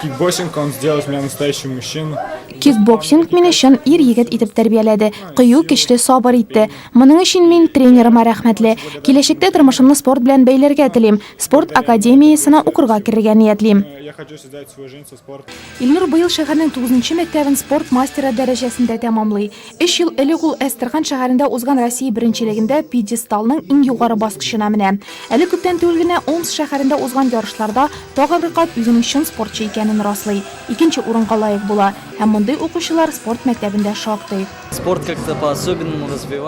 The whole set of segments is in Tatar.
Кикбоксинг он сделал из меня настоящего мужчину. Кикбоксинг мине чын ир-егет итеп тәрбияләде, кыю, көчле, сабыр итте. Моның өчен мин тренерыма рәхмәтле. Киләчәктә тормышымны спорт белән бәйләргә телим. Спорт академиясенә укырга керергә ниятлим. Я хочу создать свою жизнь со спортом. Илнур быел шәһәрнең 9 нчы мәктәбен спорт мастеры дәрәҗәсендә тәмамлый. Өч ел элек ул Әстерхан шәһәрендә узган Россия беренчелегендә пьедесталның иң югары баскычына менә. Әле күптән түгел генә Омск шәһәрендә узган ярышларда тагын Рыкат үзенең чын спортчы икәнен раслый, икенче урынга лаек була. Һәм мондый укучылар спорт мәктәбендә шактый.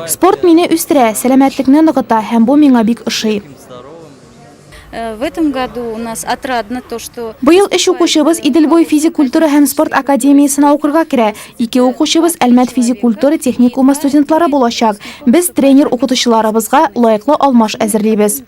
Спорт мине үстерә, сәламәтлекне ныгыта һәм бу миңа бик ошый. В этом году у нас отрадно то, что... Быел өч укучыбыз Иделбой физик культура һәм спорт академиясенә укырга керә. Ике укучыбыз Әлмәт физик культура техникумы студентлары булачак. Без тренер укытучыларыбызга лаеклы алмаш әзерлибез.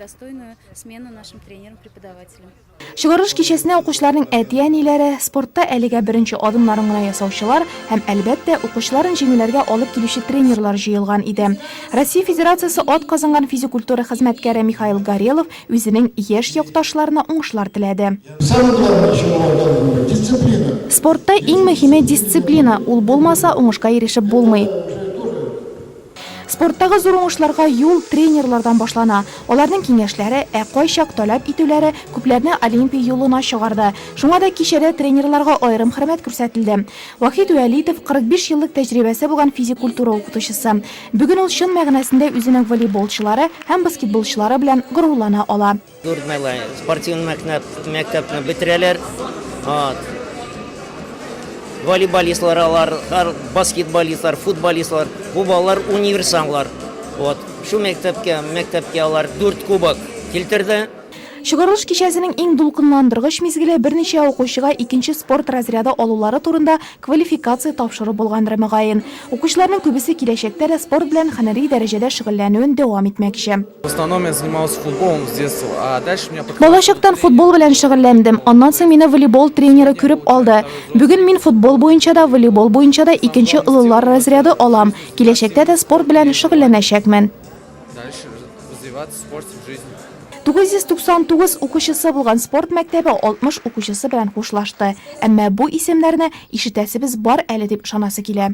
Чыгарылыш кичәсенә укучыларның әти-әниләре, спортта әлегә беренче адымнарын гына ясаучылар һәм, әлбәттә, укучыларын җиңүләргә алып килүче тренерлар җыелган иде. Россия Федерациясе атказанган физикультура хезмәткәре Михаил Горелов үзенең яшь якташларына уңышлар теләде. Самое главное, чему вам дали волю, дисциплина. Спортта иң мөһиме, дисциплина, ул булмаса, уңышка ирешеп булмый. Спорттагы зур уңышларга юл тренерлардан башлана. Аларның киңәшләре, ә кайчак таләп итүләре күпләрне Олимпия юлына чыгарды. Шуңа да кичәдә тренерларга аерым хөрмәт күрсәтелде. Вахит Вәлитов, 45 еллык тәҗрибәсе булган физик культура укытучысы. Бүген ул чын мәгънәсендә үзенең волейболчылары һәм баскетболчылары белән горурлана ала. Дүртмәләй спортивный мәктәп, мәктәпне бетерәләр. Вот. Волейболистлар алар, ар- баскетболистлар, футболистлар. Бу балалар универсамлар. Вот. Шул мәктәпкә, мәктәпкә алар дүрт кубок килтерде. Чыгарылыш кичәсенең иң дулкынландыргыч мизгеле берничә укучыга икенче спорт разряды алулары турында квалификация тапшыру булгандыр, мөгаен. Укучыларның күбесе киләчәктә дә спорт белән һөнәри дәрәҗәдә шөгыльләнүен дәвам итмәкче. Балачактан футбол белән шөгыльләндем. Аннан соң мине волейбол тренеры күреп алды. Бүген мин футбол буенча да, волейбол буенча да икенче олылар разряды алам. Киләчәктә дә спорт белән шөгыльләнәчәкмен. Дальше развиваться, спорт в жизни. 999 укучысы булган спорт мәктәбе 60 укучысы белән хушлашты. Әмма бу исемнәрне ишетәсебез бар әле дип ышанасы килә.